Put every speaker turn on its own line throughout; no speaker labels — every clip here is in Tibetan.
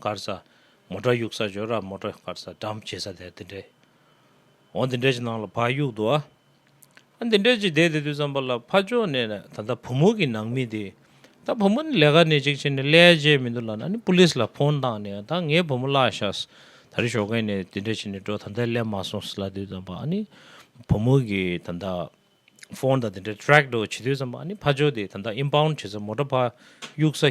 དཀར་ས། མོ་བྲ་ཡུག་ས་ཇོ་ར་མོ་བྲ་དཀར་ས་འགྲམ་བྱེ་ས་དེར་འདི་འདྲའི། འོ་འདི་འདྲའི་ཅི་སྣང་ལ་བག་ཡུག་འདུག་ཨ། ཨ་འདི་འདྲའི་ཅི་བསྡད་དེ་དུས་བསམ་པ་ལ་ཕ་ཅོག་ནས་ན་ད་ལྟ་བུ་མོ་གི་ནང་མི་དེ། ད་བུ་མོ་ནི་ལས་ཀ་ནི་གཅིག་བྱེད་ནས་ཀླད་རྗེས་མི་འདུག་ལ་ན་ནི་པུ་ལིས་ལ་ཕོན་བཏང་ནས་ད་ངའི་བུ་མོ་བརླག་ཤགས། ད་རི་ཞོགས་མཁན་ནས་དེ་འདྲ་བྱེད་ནས་འགྲོ་ད་ལྟའི་སླེབས་མ་སོང་ཟེར་ལ་དུས་བསམ་པ་ཨ་ནི། བུ་མོ་གི་ད་ལྟ། ཕོན་ད་དེ་འདྲའི་ཏྲེག་ཏོ་བྱེད་དུས་བསམ་པ་ཨ་ནི་ཕ་ཅོག་དེ་ད་ལྟ་ཨིན་བྷའུན་བྱེ་ས་མོ་བྲ་བག་ཡུག་ས།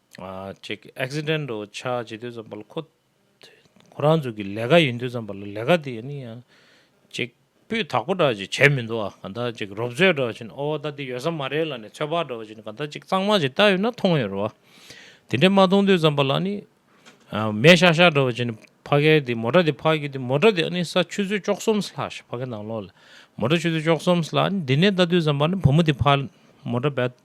གཅིག Accidental ཆགས་ཇི་དུས་ཙམ་པ་ལ་ཁོ་ཁོ་རང་ཚོ་གི་ལས་ཀ་ཡིན་དུས་ཙམ་པ་ལ་ལས་ཀ་དེ་ནི་ཡང་གཅིག་སྤུས་དག་པོ་འདྲ་ཅིག་བྱས་མི་འདུག་ཨ་ག་འདྲ་ཅིག་རོབ་ཚོད་འདྲ་བ་ཅིག་ཨོ་ད་འདི་ཡོད་ས་མ་རེད་ལ་ནི་ཚོད་དཔག་འདྲ་བ་ཅིག་ག་འདྲ་ཅིག་གཙང་མ་ཅིག་བལྟ་ཡོད་ན་མཐོང་ཡོད་རེད་བ། དེ་འདྲ་མ་མཐོང་དུས་ཙམ་པ་ལ་ནི་མེ་ཤག་ཤག་འདྲ་བ་ཅིག་ནི་ཕ་གའི་དེ་མོ་ཏྲ་དེ་ཕག་གི་དེ་མོ་ཏྲ་དེ་ཨ་ནི་ས་ཆུ་ཚོད་བཅོ་གསུམ་ལྷག་ཕ་གའི་ནང་ལོགས་ལ་མོ་ཏྲ་ཆུ་ཚོད་བཅོ་གསུམ་ལྷག་འདི་ནས་བལྟ་དུས་ཙམ་པ་ནི་བུ་མོ་དེ་ཕ་མོ་ཏྲ་བལྟ།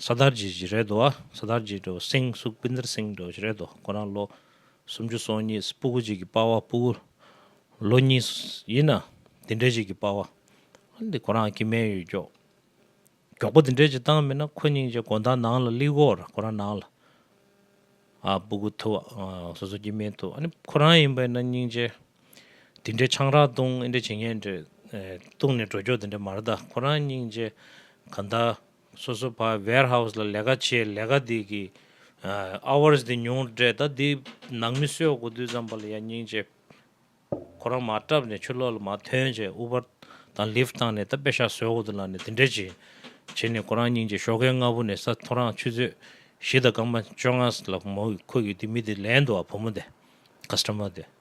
ས་དར་རྗེས་བཞི་རལ་དོ་ཨ། ས་དར་རྗེས་དྲོ་བ་སེང་གཟུགས་སྤུན་ཟླར་སེང་དྲོ་བཞི་རལ་དོ་ཁོ་རང་ལོ་སུམ་ཅུ་སོང་གཉིས་སྤུ་གུ་གཅིག་གི་དཔའ་བ་སྤུ་གུ་ལོ་གཉིས་ཡིན་ན་དེ་འདྲའི་གཅིག་གི་དཔའ་བ། འདི་ཁོ་རང་གི་མན་ཡོད་མགྱོགས་མགྱོགས་པོ་དེ་འདྲའི་གཅིག་བཏང་མེད་ན་ཁོ་སྙིང་རྗེ་དགོན་དང་ནང་ལ་གླིག་སྒོར་ཁོ་རང་ནང་ལ་ཨ་སྤུ་གུ་ཐུབ་ཨ་སོ་སོ་གྱི་མན་ཐུབ་ཨ་ནི་ཁོ་རང་ཡིན་པས་ན་སྙིང་རྗེ་དེ་འདྲའི་ཆང་རག་བཏུང་ཨེ་འདྲའི་བྱེད་ངན་འདྲ། བཏུང་ནས་འགྲོ་སྐྱོ་དེ་འདྲ་མ་རེད་ད་ཁོ་རང་སྙིང་རྗེ་ག་འདའ། སོ་སོ་བ་ཝེར་ཧའུ་ལ་ལས་ཀ་བྱེད་ལས་ཀ་དེ་གི hours དེ་ཉུང་རེད་ད་དེ་ནང་མི་གསོད་དགོ་དུས་ཙམ་པ་ལ་ཡ་སྙིང་རྗེ། ཁོ་རང་མ་བཀྲབ་ནས་ཆུ་ལོག་ལ་མ་ཐོན་བྱས Uber དང Lyft བཏང་ནས་ད་དཔེ་ཤག་བཟོས་དགོ་དུ་ལ་ནས་དེ་འདྲའི་བྱེད། བྱེད་ནས་ཁོ་རང་སྙིང་རྗེ་ཞོགས་ཀའི་སྔ་བོ་ནས་ས་མཐོ་རང་ཆུ་ཚོད་བཞི་དང་སྐར་མ་བཅོ་ལྔ་ལ་མོ་ཁོ་གི་དེ་མི་དེ་ལན་དུ་བ་བུ་མོ་དེ customer དེ།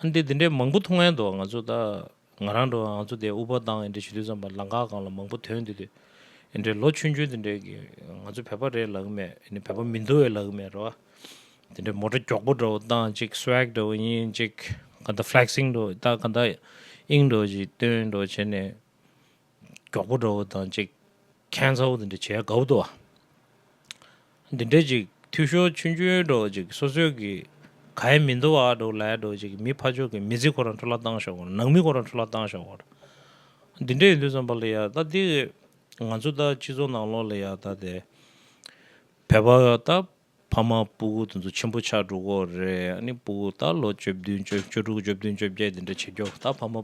ཨ་འདི་འདི་འདྲའི་མང་པོ་མཐོང་ཡན་འདུག་ང་ཚོ་ད་ང་རང་འགྲོ་ང་ཚོ་དེ་ཨུ་པ་དང་ཡན་འདྲའི་ཞུ་དུས་ཙམ་པ་ལང་ཁ་གང་ལ་མང་པོ་དོན་འདི་དུས་ཡན་འདྲའི་ལོ་ཆུན་ཆུན་འདི་འདྲའི་གི་ང་ཚོ་བས་པ་རེད་ལ་གི་མེད་ཡན་བས་པ་མི་འདུག་ཡན་ལ་གི་མེད་རེད་བ། འདི་འདྲའི་མོ་ཏྲ་མགྱོགས་པོ་འདྲ་བོ་བཏང་ཅིག Swag འདྲ་བོ་ཡིན་ཅིག་ག་འདྲ Flexing འདྲ་བོ་ད་ག་འདྲ་ཨིང་འདྲ་བོ་ཞིག་སྟོན་འདྲ་བོ་བྱེད་ནས། མགྱོགས་པོ་འགྲོ་བ་དང་གཅིག་ཁྱད་མཚར་བོ་དེ་འདྲ་བྱས་དགའ་བོ་འདུག་ཨ། འདི་འདྲ་ཅིག་འཐུས་ཤོར་ཆུ་འཇོལ་འགྲོ་བ་ཅིག་སོ་སོས་ཀྱི་ག་ཡེ་མི་འདུག་ཨ་འགྲོ་ལས་འགྲོ་བ་ཅིག་གི་མི་ཕ་ཕྱོགས་ཀྱི་མི་ཚེ་ཁོ་རང་འཕྲོ་བརླག་བཏང་ཤོག་གོ་ནང་མི་ཁོ་རང་འཕྲོ་བརླག་བཏང་ཤོག་གོ། འདི་འདྲ་ཡིན་དུས་བསམ་པ་ལ་ཡང་ད་འདི་ང་ཚོ་ད་སྤྱི་ཚོགས་ནང་ལོགས་ལ་ཡང་ད་དེ་བོད་པ་ད། ཕ་མ་སྤུ་གུ་དེ་ཚོ་ཆེན་པོ་ཆགས་འགྲོ་གོ་རེད་ཨ་ནི་སྤུ་གུ་ད་ལོ་བཅོ་བདུན་བཅོ་བཅུ་དྲུག་བཅོ་བདུན་བཅོ་བརྒྱད་དེ་འདྲ་བྱེད་རྒྱུ་ད་ཕ་མ་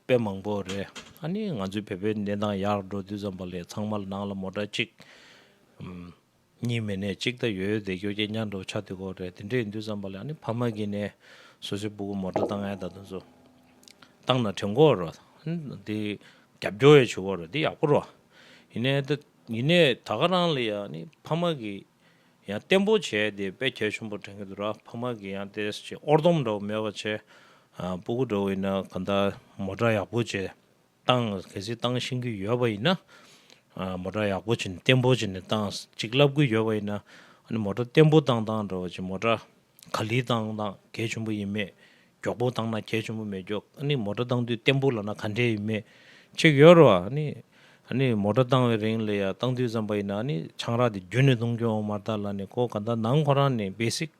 དཔེ་མང་པོ་རེད་ཨ་ནི་ང་ཚོའི་བལ་པོའི་གནས་སྟངས་ཡག་འགྲོ་དུས་ཙམ་པ་ལས་ཚང་མ་ནང་ལ་མོ་འདྲ་གཅིག་གཉིས་མེད་ནས་གཅིག་ད་ཡོད་བསྡད་རྒྱུ་སྐྱེ་ཉར་འགྲོ་ཆགས་དུས་གོ་རེད་དེ་འདྲ་ཡིན་དུས་ཙམ་པ་ལས་ཨ་ནི་ཕ་མ་གི་ནས་སོ་སོའི་སྤུ་གུ་མོ་འདྲ་ད་ང་ད་དུ་ཚོ་བཏང་ན་དྲན་གོ་རོ་དེ་རྒྱབ་སྐྱོར་ཡ་བྱེད་གོ་རོ་དེ་ཡག་པོ་རོ་ཡིན་ནས་ད་ག་རང་ལ་ཡ་ཨ་ནི་ཕ་མ་གི་ཡང་བརྟན་པོ་བྱས་ཏེ་དཔེ་ཁྱད་ཆེན་པོ་དྲན་གྱི་འདུག་ར་ཕ་མ་གིས་ཡང་དེ་ཅི་ཨོར་དོམ་འདྲ་བོ་མེད་པ་བྱས། སྤུ་གུ་འདྲ་བོ་ཡིན་ན་གང་ལྟར་མོ་སྒྲ་ཡག་པོ་བྱས། བཏང་གལ་སྲིད་བཏང་ཤེས་ཀྱི་ཡོད་པ་ཡིན་ན། མོ་སྒྲ་ཡག་པོ་བྱས་ནས་བརྟན་པོ་བྱས་ནས་བཏང་ཅིག་ལབ་ཀྱི་ཡོད་པ་ཡིན་ན། ཨ་ནི་མོ་སྒྲ་བརྟན་པོ་བཏང་བཏང་འདྲ་བོ་བྱས་མོ་སྒྲ་ག་ལི་བཏང་ན་གས་ཆེན་པོ་ཡིན་མེད་མགྱོགས་པོ་བཏང་ན་གས་ཆེན་པོ་མེད་མགྱོགས་ཨ་ནི་མོ་ཏྲ་བཏང་དུས་བརྟན་པོ་ལ་ན་ག་འདྲེ་ཡིན་མེད་ཅིག་ཡོད་རོ་ཨ་ནི་ཨ་ནི་མོ་ཏྲ་བཏང་བའི་རིང་ལ་ཡ་བཏང་དུས་ཙམ་པ་ཡིན་ན་ཨ་ནི་ཆང་རག་དེ་རྒྱུན་ནས་བཏུང་རྒྱུ་འོང་མ་ལྟར་ལ་ནི་ཁོ་ག་ད་ནང་ཁོ་རང་ནི basic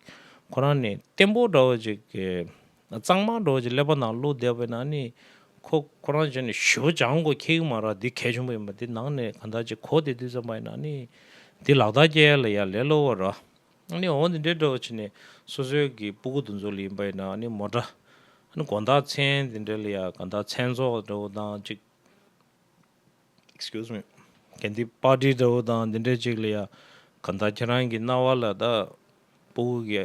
ཁོ་རང་ནི་བརྟན་པོ་འདྲ་བོ་ཅིག་གཙང་མ་འདྲ་བོ་ཅིག་ཀླད་པ་ནང་ཀླུ་བསྡད་པས་ན་ཨ་ནི་ཁོ་ཁོ་རང་ཅག་ནི་ཞི་བོ་ཅང་གོ་ཁེགས་མ་རག་འདི་གས་ཆེན་པོ་ཡིན་པ་འདི་ནང་ནས་ག་ད་ཅིག་གོ་བསྡད་དུས་ཙམ་པ་ཡིན་ན་ཨ་ནི་འདི་ལག་བརྡ་བསྐྱལ་ལ་ཡ་ལེ་ལོ་བོ་ར། ནི་འོ་འདི་འདྲའི་སྒྲོ་བྱས་ནས་སོ་སོའི་གི་སྤུ་གུ་དུ་མཛོད་ལ་ཡིན་པ་ཡིན་ན་ནི་མོ་འདྲ། ནི་གོ་མདའ་ཚན་འདི་འདྲའི་ལ་ཡ་ག་མདའ་ཚན་ཚོགས་འདྲ་བོ་དང་གཅིག། Excuse me། གན་དི་པ་ཏི་འདྲ་བོ་དང་འདི་འདྲའི་གཅིག་ལ་ཡ་ག་མདའ་ཁྱེད་རང་གི་རྣ་བ་ལ་དག་སྤུ་གུ་གི།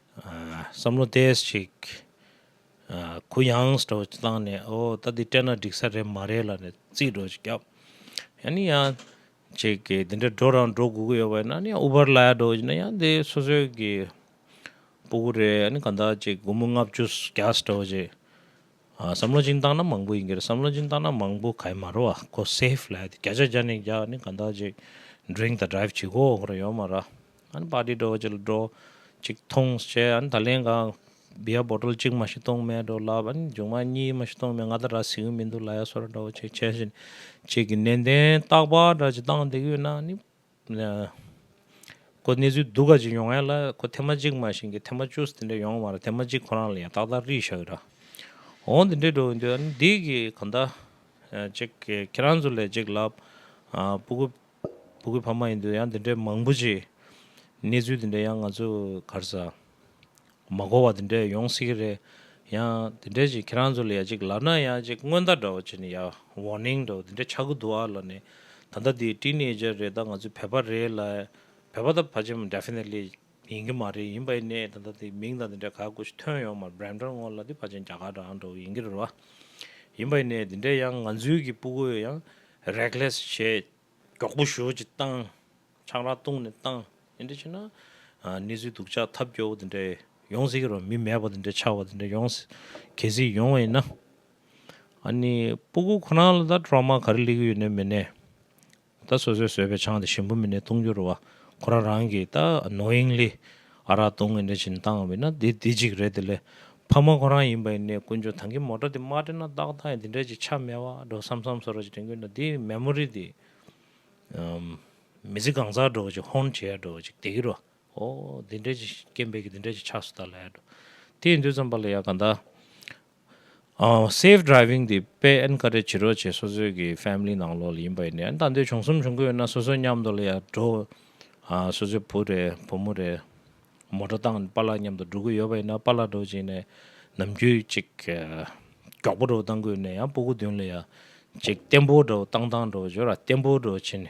བསམ་བློ་བདེས་ཤིག། གུ་ཡངས་སུ་འགྲོ་བཏང་ནས་ཨོ་ད་འདི་སྤྲད་ན་འགྲིག་ས་རེད་མ་རེད་ལ་ནས་རྩིས་འགྲོ་ཅིག་བརྒྱབ། ཡང་ནི་ཡང་ཅིག་གི་འདི་འདྲ་འགྲོ་རང་འགྲོ་དགོས་ཀྱི་ཡོད་པ་ཡིན་ན་ནི་ཨུ་བར་ལ་ཡ་འགྲོ་ཡིན་ན་ཡང་འདི་སོ་སོའི་གི་སྤུ་གུ་རེད་ཡང་ནི་གང་དག་ཅིག་དགུང་མོ་ལྔ་བཅུ་བརྒྱ་སུ་འགྲོ་ཅིག། བསམ་བློ་ཅིན་བཏང་ན་མང་པོ་ཡིན་གྱི་རེད་བསམ་བློ་ཅིན་བཏང་ན་མང་པོ་ག་ཡི་མ་རོ་ཨ་ཁོ་སེ་ཧྥི་ལ་ཡ་འདི་བརྒྱ་ཆ་བརྒྱ་ནས་བརྒྱ་ནི་གང་དག་ཅིག Drink དང Drive བྱེད་དགོས་ཡོད་ཀྱི་རེད་ཡོད་མ་ར། ཨན་པ་ཏི་དྲོ་བ་ཅིག་ལ་སྒྲོ། ཅིག་ཐོང་ཞེས་ཨན་ད་ལེན་གང། བི་ཡ་བོ་དྲོལ་ཅིག་མ་ཤི་སྟོང་མེད་དྲོ་ལབ་ཨན་འཇུག་མ་གཉིས་མ་ཤི་སྟོང་མེད་ང་ད་ར་ཟིག་ཡོད་མི་འདུག་ལ་ཡ་སོ་ར་དྲོ་བ་ཅིག་ཆེ་བཞིན། ཅིག་གི་ནན་ཏན་རྟག་པ་འདྲ་ཅིག་བཏང་འདེགས་ཡོད་ན་ནི། ཁོ་གནས་ཚུལ་སྡུག་ག་ཅིག་ཡོང་ཨེ་ལ་ཁོ་ཐེ་མ་ཅིག་མ་བཞིན་གི་ཐེ་མ་ཅུས་དེ་འདྲ་ཡོང་མ་ར་ཐེ་མ་ཅིག་ཁོ་རང་ལ་ཡང་ཏག་ཏག་རིས་ཤག་ར། འོང་དེ་འདྲས་འགྲོ་གི་འདུག་ཨན་འདི་གི་གང་ད། ཅིག་ཁྱེད་རང་ཚོ་ལས་ཅིག་ལབ། སྤུ་གུ། བུ་གུ་ཕ་མ་ཡིན་དུས་ཡང་འདི་འདྲའི་མང་པོ་ཅིག་གནས་ཚུལ་འདི་འདྲའི་ཡང་ང་ཚོ་གར་ས་མ་གོ་བ་འདི་འདྲའི་ཡོང་སྲིད་ཀྱི་རེད་ཡང་འདི་འདྲའི་ཅིག་ཁྱེད་རང་ཚོ་ལ་ཡང་ཅིག་ལབ་ན་ཡང་ཅིག་སྔོན་བརྡ་འདྲ་བོ་བྱས་ནས་ཡ Warning འདྲ་བོ་འདི་འདྲ་ཆགས་ཀྱི་འདུག་ཨ་ལ་ནས་ད་ལྟ་འདི Teenager རེད་ད་ང་ཚོའི་བོད་པ་རེད་ལ་བོད་པ་ད་བར་ཆད་མ Definitely ཡིན་གྱི་མ་རེད་ཡིན་པའི་གནས་ད་ལྟ་དེ་མིང་དང་དེ་འདྲ་ག་དགོས་ཞིག་ཐོན་ཡོང་མར་འབྲེམ་སྟོན་སྔོན་ལ་དེ་ཕ་ཆེན་རྒྱ་གར་འགྲོ་ཨང་འགྲོ་གི་ཡིན་གྱི་རེད་བ། ཡིན་པའི་གནས་དེ་འདྲས་ཡང་ང་ཚོའི་གི་སྤུ་གོས་ཡང Reckless བྱས་མགྱོགས་པོ་ཞོལ་གྱི་བཏང་ཆང་རག་བཏུང་ནས་བཏང་དེ་འདྲས་བྱས་ན་གནས་ཚུལ་སྡུག་ཅག་ཐབས་སྐྱོ་བོ་དེ་འདྲས་ཡོང་སྲིད་གི་རེད་བ་མི་མེད་པ་དེ་འདྲས་ཆགས་པ་དེ་འདྲས་ཡོང་གལ་སྲིད་ཡོང་བ་ཡིན་ན་ཨ་ནི་སྤུ་གོས་ཁོ་ན་ལ་ད Trauma ག་རེ་སླེབས་གི་ཡོད་ནས་མེད་ནས། ད་སོ་སོས་བཟོས་པའི་ཆང་དེ་ཞིམ་པོ་མིན་ནས་བཏུང་རྒྱུར་རོ། ཁོ་རང་རང་གིས་ད་ནོ་ཡིང་ལི། ཨ་རག་བཏུང་ངེས་འདྲ་བྱིན་བཏང་བས་ན་དེ་དེ་གཅིག་རེད་དེ་ལས། ཕ་མ་ཁོ་རང་ཡིན་པ་ཡིན་ནས་ཀུན་ཆོས་ཐང་གི་མོ་ཏྲ་དེ་མ་དྲན་ན་བདག་ད་ཡང་དེ་འདྲ་ཅིག་ཆ་མེད་བ་འགྲོ་བསམ་བསམ་སོ་ར་ཅིག་དྲན་གྱུར་ན་དེའི་མེ་མོ་རི་དེ། མི་ཚེ་གང་ཟག་འགྲོ་ཅིག་ཧོན་བྱེད་ཡ་འགྲོ་ཅིག་དེ་གི་རོ། ཨོ་དེ་འདྲ་ཅིག་སྐྱེ་འབས་ཀྱི་དེ་འདྲ་ཅིག་ཆགས་སུ་ད་ལ་ཡ་འགྲོ། དེ་ཡིན་དུས་ཙམ་པ་ལ་ཡ་ག་ད། Safe Driving དེ་དཔེ་ཨེན་ཀ་རེ་བྱེད་རོགས་བྱེད་སོ་སོའི་གི Family ནང་ལོག་ལ་ཡིན་པ་ཡིན་ནའི་ཨེན་ད་འདོད་བྱུང་གསུམ་བྱུང་གི་ཡོད་ན་སོ་སོའི་མཉམ་དུ་ལ་ཡར་འགྲོ་སོ་སོའི་བུ་རེ་བུ་མོ་རེ་མོ་ཏྲོ་དང་པཱ་ལགས་མཉམ་དུ་འགྲོ་གི་ཡོད་པ་ཡིན་ན་པཱ་ལགས་འགྲོ་བྱས་ནས་ནམ་རྒྱུན་ཅིག་མགྱོགས་པོ་འགྲོ་བཏང་གི་ཡོད་ནའི་ཡང་པུ་གུ་བདུན་ལ་ཡར་ཅིག་བརྟན་པོ་འགྲོ་བཏང་བཏང་འགྲོ་བྱོས་ར་བརྟན་པོ་འགྲོ་བྱས་ནས་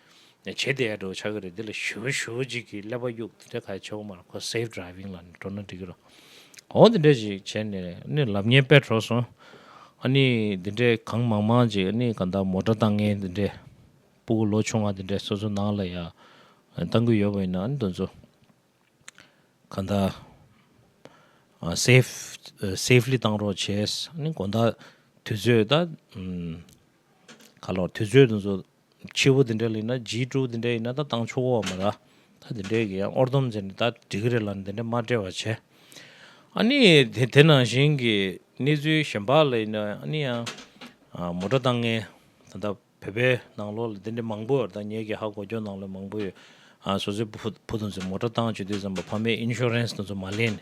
བྱེད་དེ་འགྲོ་ཆགས་ཀྱི་རེད་འདི་ལ་ཞུ་བ་ཞུ་བ་གཅིག་གིས་ཀླད་པ་གཡུག་འདི་འདྲ་ག་ཆོག་མ་རེད་ཁོ safe driving ལ་འགྲོ་ན་འགྲིག་གི་རེད་འོ་འདི་འདྲ་ཞིག་བྱས་ནས་ནི་ལབ་ཉེན་དཔེ་གྲོགས་སོང་ཨ་ནི་འདི་འདྲའི་གང་མང་མང་ཅིག་ཨ་ནི་གང་དག་མོ་དགྲ་བཏང་ངན་འདི་འདྲའི་སྤུ་གུ་ལོ་ཆུང་བ་འདི་འདྲའི་སོ་སོ་ནང་ལ་ཡང་བཏང་གི་ཡོད་པ་ཡིན་ན་ཨ་ནི་དོན་ཚོ་གང་དག safe safely བཏང་རོགས་བྱས་ཨ་ནི་དགོན་བདག་དུས་ཚོད་ད་ག་ལོག་དུས་ཚོད་དོན་ཚོ་ཆུ་བོ་དེ་འདྲ་ལེན་ན་རྗེའི་སྤྲུལ་དེ་འདྲ་ཡིན་ན་ད་བཏང་ཆོག་གོ་བ་མ་ར་ད་དེ་འདྲའི་གི་ཡང་ཨོར་དོམ་ཟེར་ནས་ད་འགྲིག་གི་རེད་ལ་དེ་འདྲ་མ་བྲེལ་བ་བྱས། ཨ་ནི་དེ་དེ་ནང་བཞིན་གི་གནས་ཚུལ་གཞན་པ་ལ་ཡིན་ན་ཨ་ནི་ཡང་མོ་སྒྲ་བཏང་ངན་ད་ལྟ་བོད་པའི་ནང་ལོགས་ལ་དེ་འདྲའི་མང་པོ་ད་ངེད་ཀྱི་ཧ་གོ་རྒྱོ་ནང་ལོགས་མང་པོ་ཡོད། སོ་སོའི་བུ་བུ་དང་ཚོས་མོ་སྒྲ་བཏང་བྱོས་དུས་བསམ་པ་ཕ་མའི Insurance དང་ཚོ་མ་ལེན་ནས།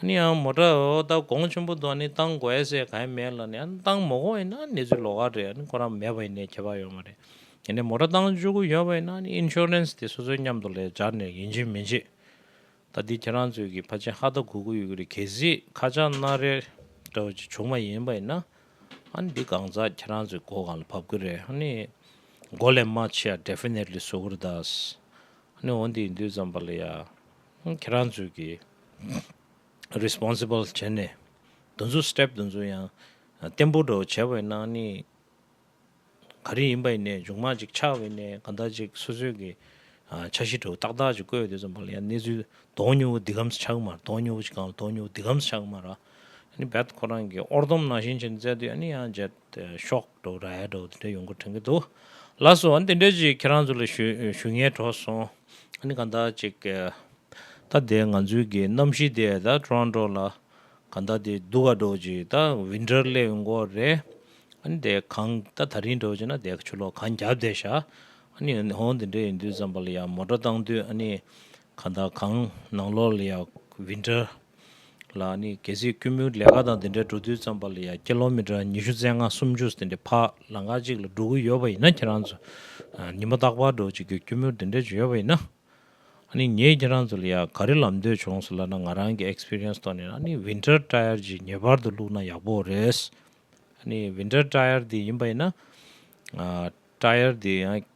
ཨ་ནི་ཨང་མོ་ཏྲའོ་ཨོ་ཏའོ་གོང་ཆེན་པོ་དང་ནི་ཏང་གོའེ་སའེ་ག་ཡིན་མེད་ལ་ནི་ཨ་ནི་ཏང་མོ་གོ་ཡིན་ན་ཨ་ནི་ཚོའི་ལོ་ག་རེད་ཨ་ནི་ཁོ་རང་མེད་པ་ཡིན་ནའི་ཁྱད་པར་ཡོད་མ་རེད། ཡིན་ནའི་མོ་ཏྲ་ཏང་བཅུ་དགུ་ཡོད་པ་ཡིན་ན་ཨ་ནི Insurance དེ་སོ་སོའི་མཉམ་དུ་ལས་སྦྱར་ནས་ཡིན་གཅིག་མིན་གཅིག། ད་འདི་ཁྱེད་རང་ཚོའི་གི་ཕ་ཆེན་ཧ་ད་གུ་གུ་ཡོད་གི་རེད་གལ་སྲིད་ཁ་ཆག་སྣ་རལ་འདྲ་བ་ཅིག་བྱུང་བ་ཡིན་པ་ཡིན་ན་ཨ་ནི་འདི་གང་ཟག་ཁྱེད་རང་ཚོའི་མགོ་གང་ལ་བབ་གི་རེད་ཨ་ནི་མགོ་ལས་མ་ཕྱི་ཡ Definitely བཟོ་གི་རེད་ད། ཨ་ནི་འོ་འདི་ཡིན་དུས་ཙམ་པ་ལ་ཡ། ཁྱེད་རང་ཚོས་ཀྱིས Responsible བྱས་ནས་འདུ་འཛོ Step འདུ་འཛོ་ཡང་བརྟན་པོ་འགྲོ་བྱས་བས་ན་ནི་ག་རེ་ཡིན་པ་ཡིན་ནས་འཇུག་མ་ཅིག་ཆགས་བས་ནས་ག་འདྲ་ཅིག་སོ་སོས་ཀྱི་ཆ་ཤི་དྲོ་ཏག་ཏག་ཅིག་བཀོད་ཡོད་དེ་ཙམ་པ་ལ་ཡང་གནས་ཚུལ་དོག་ཉུལ་བོ་འདི་གམ་ས་ཆགས་མ་ར་དོག་ཉུལ་བོ་ཅིག་གང་ལ་དོག་ཉུལ་བོ་འདི་གམ་ས་ཆགས་མ་ར་ནི་རྦད་དུ་ཁོ་རང་གིས་ཨོར་དོམ་ནང་བཞིན་བྱས་ནས་བཙལ་དུས་ཡང་ནི་ཡང་བརྗེད། དེ་ཤོག་སྒྲོག་ར་ཡ་སྒྲོག་འདི་འདྲ་ཡོང་གི་དྲན་གི་འདུག་ལགས་སོ་འདི་འདྲས་ཅིག་ཁྱེད་རང་ཚོ་ལ་ཞུ་ཞུ་ཉེས་གྲོགས་སོང་ཨ་ནི་གང་ལྟར་ཅིག་ད་དེ་ང་ཚོའི་གི་གནམ་གཤིས་དེ་ད Toronto ལ་གང་ལྟར་དེ་སྡུག་ག་འགྲོ་ཅིག་ད Winter སླེབས་ཡོང་གོ་རེད་ཨ་ནི་དེ་གང་ད་ད་རིང་འགྲོ་ཅིག་ན་དེ་ཆུ་ལོག་གང་རྒྱབ་དེ་ཤག་ཨ་ནི་ཧོན་དེ་འདྲས་ཡིན་དུས་ཙམ་པ་ལ་ཡང་མོ་ཏོ་བཏང་དུས་ཨ་ནི་གང་ད་གང་ནང་ལོགས་ལ་ཡང Winter། ལ་ནི་གལ་སྲིད་དཀྱུས་མོའི་ལས་ཀ་དང་དེ་འདྲའི་འགྲོ་དུས་བརྩམས་པ་ལ་ཡང་སྐྱེ་ལོ་མི་གྲངས་ཉི་ཤུ་རྩེ་ལྔ་སུམ་ཅུ་དེ་འདྲའི་ཕག་ལ་ངག་གཅིག་ལ་འགྲོ་གི་ཡོད་པ་ཡིན་ན་ཁྱེད་རང་ཚོ་ཉིན་མ་རྟག་པར་འགྲོ་ཅིག་གི་དཀྱུས་མོ་དེ་འདྲའི་བྱུང་ཡོད་པ་ཡིན་ན། ནི་ངས་ཁྱེད་རང་ཚོ་ལ་ཡང་ག་རེ་ལབ་འདོད་བྱུང་སོང་ལབ་ན་ང་རང་གི Experience ཐོག་ནས་ནི Winter Tire ཅིག་ངེས་པར་དུ་བླུགས་ན་ཡག་པོ་རེད། ནི Winter Tire དེ་ཡིན་པ་ཡིན་ན། Tire དེ་ཡང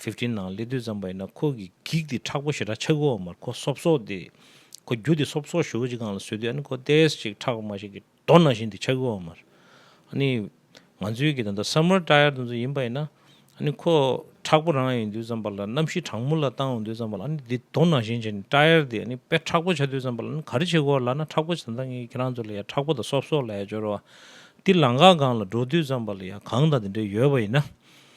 Fifteen ནང་སླེ་དུས་ཙམ་པ་ཡིན་ན་ཁོ་གི་འགིག་དེ་ཁྲག་པོ་ཞེ་དྲག་ཆགས་གི་འོག་མར་ཁོ་སོབ་སོབ་དེ་ཁོ་རྒྱུ་དེ་སོབ་སོབ་ཞོ་གཅིག་གང་ལ་བཟོས་དུས་ཨ་ནི་ཁོ་དེས་ཅིག་ཁྲག་དམར་ཞིག་གི་རྡོ་ནང་བཞིན་དེ་ཆགས་གི་འོག་མར་ཨ་ནི་ང་ཚོའི་གི་ད་ལྟ Summer Tire དེ་ཚོ་ཡིན་པ་ཡིན་ན་ཨ་ནི་ཁོ་ཁྲག་པོ་རང་ཡིན་དུས་ཙམ་པ་ལ་གནམ་གཤིས་གྲང་མོ་ལ་བཏང་འོང་དུས་ཙམ་པ་ལ་ཨ་ནི་དེ་རྡོ་ནང་བཞིན་བྱས་ནས Tire དེ་ཨ་ནི་དཔེ་ཁྲག་པོ་ཆགས་དུས་ཙམ་པ་ལ་ཨ་ནི་ག་རེ་བྱེད་དགོས་ལགས་ན་ཁྲག་པོ་ད་ལྟ་ངས་ཁྱེད་རང་ཚོ་ལ་ཡ་ཁྲག་པོ་དང་སོབ་སོབ་ལ་ཡ་སྦྱོར་བ་དེ་ལང་ཁ་སྒང་ལ་འགྲོ་དུས་ཙམ་པ་ལ་ཡ་གང་དང་དེ་འདྲའི་ཡོད་པ་ཡིན་ན།